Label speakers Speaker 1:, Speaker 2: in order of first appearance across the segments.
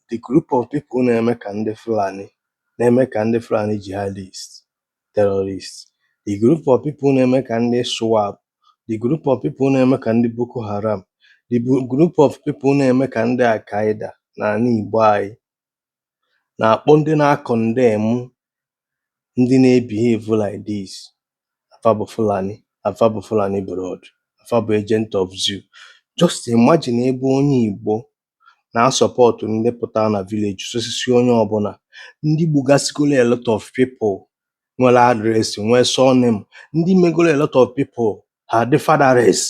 Speaker 1: The group of people na-eme ka ndị Fulani na-eme ka ndị Fulani jihadist terrorist the group of people na-eme ka ndị ISWAP the group of people na-eme ka ndị Boko Haram the bu- group of people na-eme ka ndị Al-Qaeda na ala Igbo anyị na-akpọ ndị na-acondemn ndị na-ebehave like this afa bụ Fulani afa bụ Fulani blood afa bụ agent of zoo just imagine ebe onye Igbo na-asupport ndị pụtara na village sosisi onye ọbụla ndị gbugasịgoro a lot of people nwere address nwee surname ndị megoro a lot of people ha dị fatherless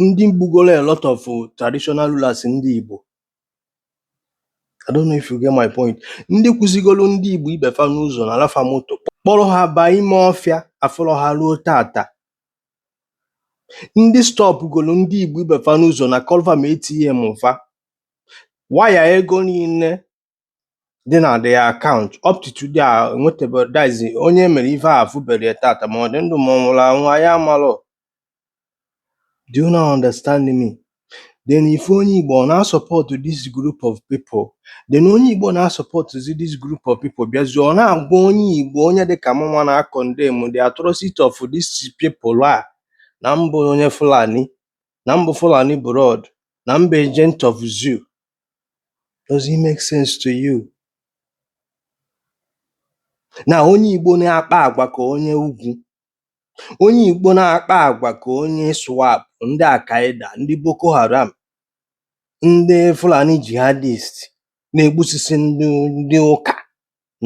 Speaker 1: ndị gbugoro a lot of traditional rulers ndị Igbo I don't know if you get my point ndị kwụsịgoro ndị Igbo ibe fa n'ụzọ nala fa moto kpọrọ ha baa ime ọfịa afụrọ ha ruo tata ndị stọpụgoro ndị Igbo ibe fa n'ụzọ nakọlụ fa ma ATM fa waya ego niile dị na their account up to today e nwetebedịzi onye e mere ife a afụberọ ya tata ma ọ dị ndụ ma ọ nwụrụ anwụ anyị amarọ do you not understand me then if onye Igbo ọ na-asupport this group of people then onye Igbo na-asupportụzi this group of people bịazie ọ na-agwa onye Igbo onye dị ka mụnwa na-acondemn the atrocity of these people a na m bụ onye Fulani na m bụ Fulani blood na m bụ agent of zoo does it make sense to you na onye Igbo na-akpa agwa ka onye ugwu Onye Igbo na-akpa agwa ka onye ISWAP, ndị Al-Qaeda, ndị Boko Haram, ndị Fulani jihadist na-egbusisi ndị ụka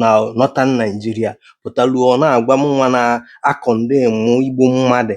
Speaker 1: na Northern Nigeria pụtalụ ọ na-agwa mụnwa na-acondemn igbu mmadụ